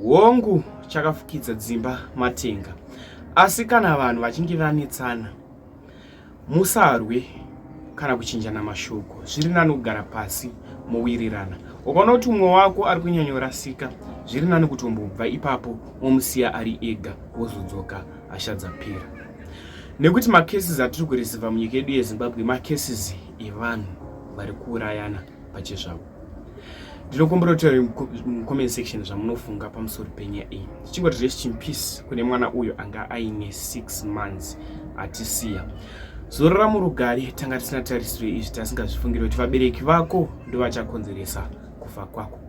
Hongu, chakafukidza dzimba matenga. Asi kana vanhu vachinge vanetsana, musarwe kana kuchinjana mashoko. Zviri nani kugara pasi mowirirana. Ukaona kuti umwe wako ari kunyanyorasika, zviri nani kutombobva ipapo womusiya ari ega wozodzoka hasha dzapera. Nekuti macases atiri kureceiva munyika yedu yeZimbabwe macases evanhu vari kuurayana. pachezvavo ndinokumbira kuti mucomment section zvamunofunga pamusoro penyaya iyi tichingoti rest in peace kune mwana uyo anga aine six months atisiya zorora murugare tanga tisina tarisiro izvi tasingazvifungiri kuti vabereki vako ndovachakonzeresa kufa kwako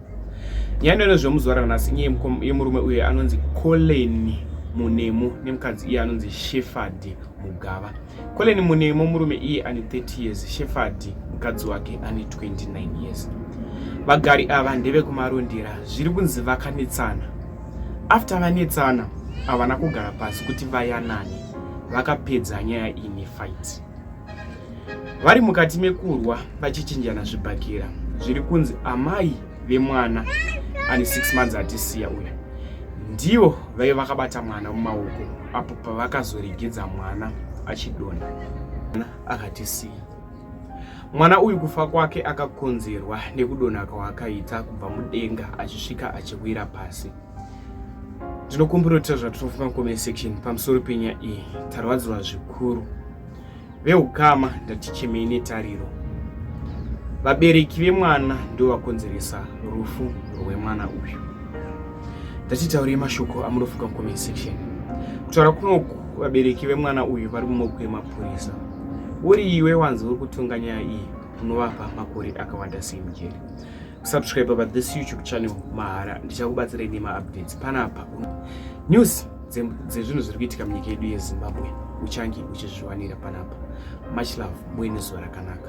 nyaya inoino zvemuzuva ranhasi nyaya yemurume uyo anonzi coleni munemo nemukadzi iye anonzi shefard mugava Colin Munemo murume iye ane 30 years, Shefadhi mukadzi wake ane 29 years. Vagari ava ndevekuMarondera, zviri kunzi vakanetsana. After vanetsana, havana kugara pasi kuti vayanane, vakapedza nyaya iyi nefight. Vari mukati mekurwa vachichinjana zvibhakera, zviri kunzi amai vemwana ane six months atisiya uya ndivo vaive vakabata mwana mumaoko apo pavakazoregedza mwana achidonha akatisiya mwana uyu kufa kwake akakonzerwa nekudonha kwaakaita kubva mudenga achisvika achiwira pasi ndinokumbira kutaura zvatinofunga mucomment section pamusoro penyaya iyi tarwadziwa zvikuru Veukama ndatichemei netariro. Vabereki vemwana ndovakonzeresa rufu rwemwana uyu. Ndatitaurei mashoko amunofunga mucomment section. Kutaura kunoku vabereki vemwana uyu vari mumoko emapurisa. Uri iwe wanzi uri kutonga nyaya iyi unovapa makore akawanda sei mujeri. Subscribe pa this YouTube channel mahara ndichakubatsirai nema updates panapa. News dzezvinhu zviri kuitika munyika yedu yezimbabwe uchange uchizviwanira panapa much love muine zuva rakanaka